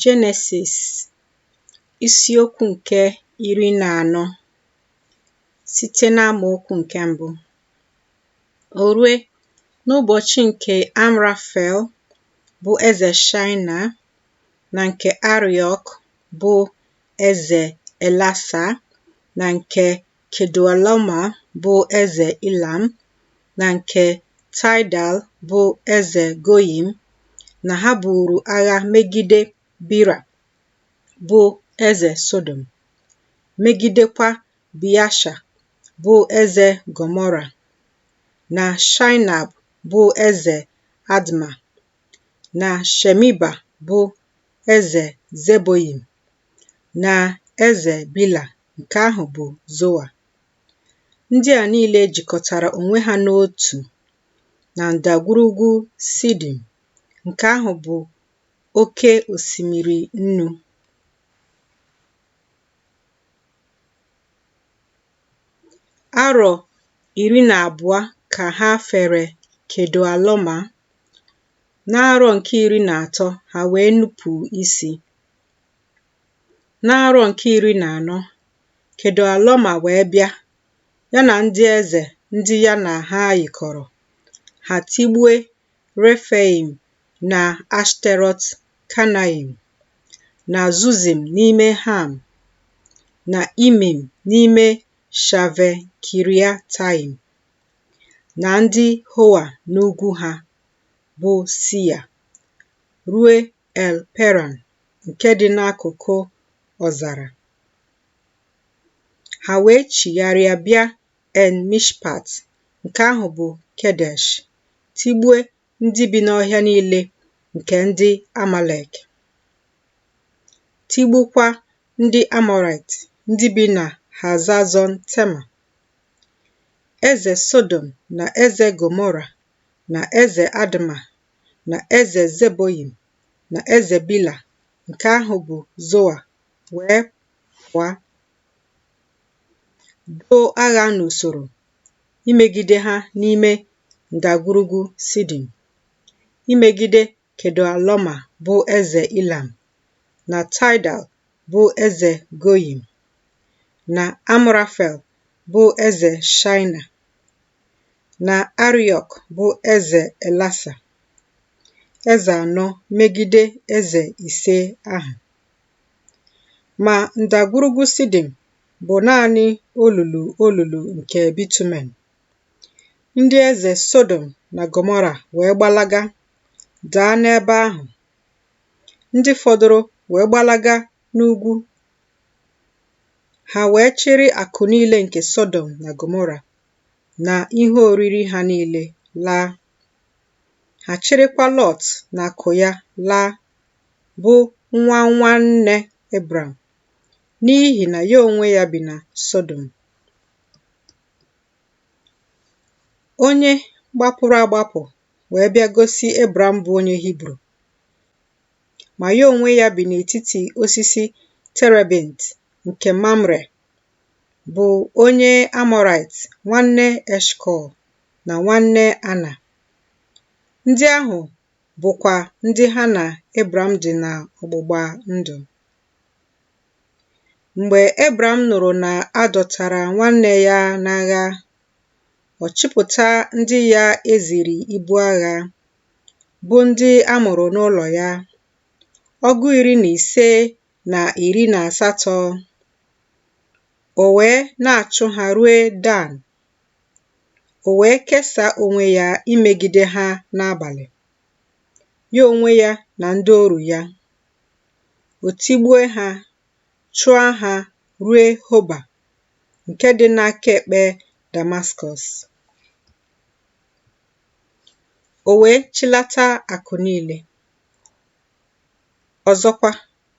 Jenesis isiokwu nke iri na anọ site n'amaokwu nke mbụ o rue n'ụbọchị nke Amrafel bụ eze Shaịna na nke Ariọk bụ eze Elasa na nke Kedọalọma bụ eze Ilam na nke Taịdal bụ eze Goyim na ha buuru agha megide Bira bụ eze Sodom, megidekwa Biasha bụ eze Gọmọra, na Shaịnab bụ eze Adma, na Shemiba bụ eze Zeboyim, na eze Bila Nke ahụ bụ Zoa. Ndị a niile jikọtara onwe ha n'otu na ndagwurugwu Sidim, nke ahụ bụ oke osimiri nnu. Arọ iri na abụọ ka ha fere Kedọalọma. N'arọ nke iri na atọ, ha wee nupụ isi. N'arọ nke iri na anọ, Kedọalọma wee bịa, ya na ndị eze ndị ya na ha yikọrọ, ha tigbue Refaim na Ashterọt Kanaim, na Zuzim n'ime Ham, na Imim n'ime Shave Kiriataim, na ndị Hoa n'ugwu ha, bụ Sia, rue El Peran nke dị n'akụkụ ọzara. Ha wee chigharịa bịa En Mishpat nke ahụ bụ Kedesh, tigbue ndị bi n'ọhịa niile nke ndị Amalek, tigbukwa ndị Amọrait ndị bi na Hazazọn Tema. Eze Sodom na eze Gọmọra na eze Adma na eze Zeboyim na eze Bila nke ahụ bụ Zoa wee pụọ doo agha n'usoro imegide ha n'ime ndagwurugwu Sidim, imegide Kedọalọma bụ eze Ilam na Taịdal bụ eze Goyim na Amrafel bụ eze Shaịna na Ariọk bụ eze Elasa, eze anọ megide eze ise ahụ. Ma ndagwurugwu Sidim bụ naanị olulu olulu nke bitumen. Ndị eze Sọdọm na Gọmọra wee gbalaga daa n'ebe ahụ, ndị fọdụrụ wee gbalaga n'ugwu. Ha wee chịrị akụ niile nke Sọdọm na Gọmọra na ihe oriri ha niile laa. Ha chịrịkwa Lọt na akụ ya laa, bụ nwa nwanne Ebram, n'ihi na ya onwe ya bi na Sọdọm. Onye gbapụrụ agbapụ wee bịa gosi Ebram bụ onye Hibru. ma ya onwe ya bi n'etiti osisi terebint nke Mamre, bụ onye Amọraịt, nwanne Eshkọl na nwanne Ana. Ndị ahụ bụkwa ndị ha na Ebram dị n'ọgbụgba ndụ. Mgbe Ebram nụrụ na a dọtara nwanne ya n'agha, ọ chịpụta ndị ya e ziri ibu agha bụ ndị a mụrụ n'ụlọ ya, ọgụ iri na ise na iri na asatọ. O wee na-achụ ha rue Dan. O wee kesaa onwe ya imegide ha n'abalị, ya onwe ya na ndị oru ya. O tigbue ha, chụa ha rue Hoba nke dị n'aka ekpe Damaskọs. O wee chịlata akụ niile. Ọzọkwa,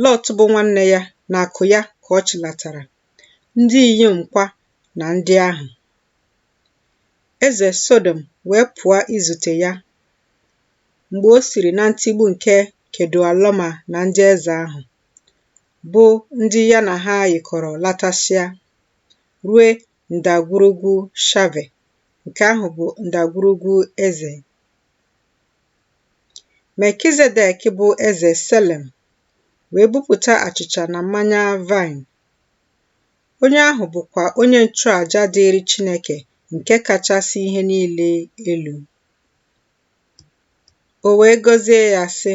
Lọt bụ nwanne ya na akụ ya ka ọ chịlatara, ndị inyom kwa na ndị ahụ. Eze Sọdọm wee pụa izute ya mgbe o siri na ntigbu nke Kedualọma na ndị eze ahụ, bụ ndị ya na ha yikọrọ latasịa, rue ndagwurugwu Shave, nke ahụ bụ ndagwurugwu eze. Melkizedek bụ eze Selem wee bupụta achịcha na mmanya vine. Onye ahụ bụkwa onye nchụaja dịịrị Chineke nke kachasị ihe niile elu. O wee gọzie ya, sị,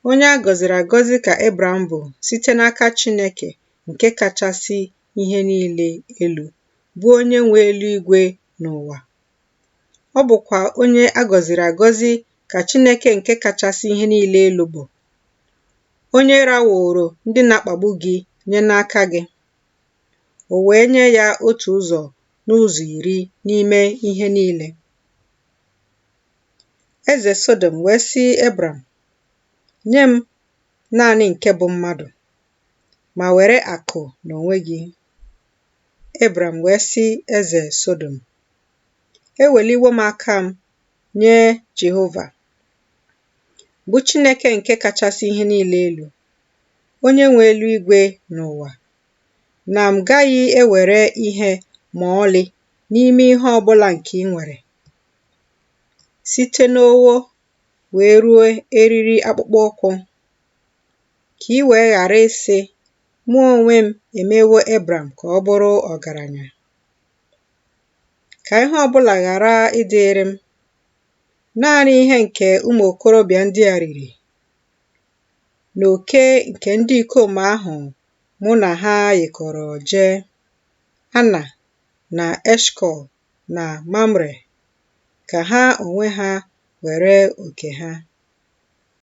Onye a gọziri agọzi ka Ebram bụ site n'aka Chineke nke kachasị ihe niile elu, bụ onye nwe eluigwe na ụwa. Ọ bụkwa onye a gọziri agọzi ka Chineke nke kachasị ihe niile elu bụ, onye raworo ndị na-akpagbu gị nye n'aka gị, o wee nye ya otu ụzọ n'ụzọ iri n'ime ihe niile. Eze Sodom wee sị Ebram, Nye m naanị nke bụ mmadụ, ma were akụ n'onwe gị. Ebram wee sị eze Sodom, Eweliwo m aka m nye Jehova, bụ Chineke nke kachasị ihe niile elu, onye nwe eluigwe na ụwa, na m gaghị ewere ihe ma ọlị n'ime ihe ọ bụla nke i nwere, site n'ogho wee ruo eriri akpụkpọ ụkwụ. ka i wee ghara ịsị, Mụ onwe m emewo Ebram ka ọ bụrụ ọgaranya. Ka ihe ọ bụla ghara ịdịrị m. Naanị ihe nke ụmụ okorobịa ndị a riri na oke nke ndị ikom ahụ mụ na ha yikọrọ jee, Ana na Eshkọl na Mamre, ka ha onwe ha were oke ha.